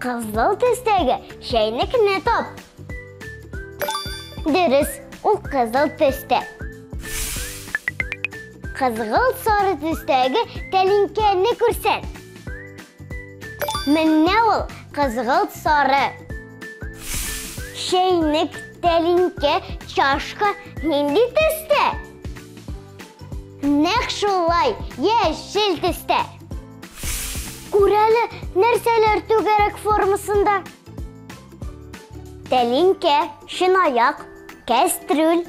Кызыл төстәге чәйнекне тап. Дөрес, ул кызыл төстә. Кызгылт сары төстәге тәлинкәне күрсәт. Менә ул кызгылт сары. Чәйнек, тәлинкә, чашка нинди төстә? Нәкъ шулай, яшел төстә. Күрәле, нәрсәләр түгәрәк формасында? Тәлинкә, шинаяк, кәстрүл,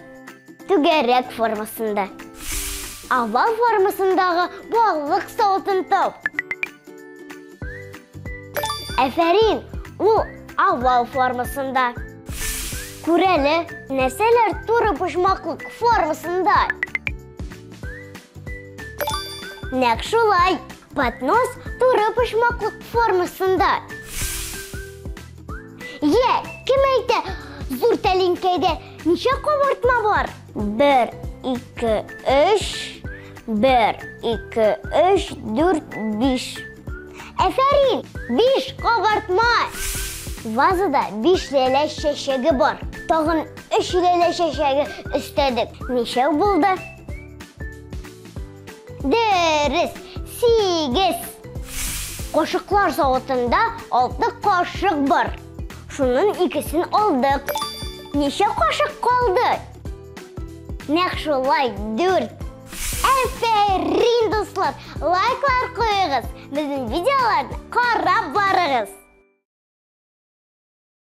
түгәрәк формасында. Овал формасындагы балык савытын тап. Әфәрин, ул овал формасында. Күрәле, нәрсәләр туры почмаклык формасында? Нәк шулай, поднос туры почмаклык формасында. Е, кем әйтә, зур тәлинкәдә ничә кабартма бар? Бер, ике, өч, бер, ике, өч, дүрт, биш. Әфәрин, биш кабартма! Вазада биш ләлә чәчәге бар. Тагын Өч иләлә чәчәге өстәдек. Ничәү булды? Дөрес, сигез. Кошыклар савытында алты кашык бар. Шунын икесен алдык. Ничә кашык калды? Нәк шулай, дүрт. Әфәрин, дуслар! Лайклар куегыз, безнең видеоларны карап барыгыз!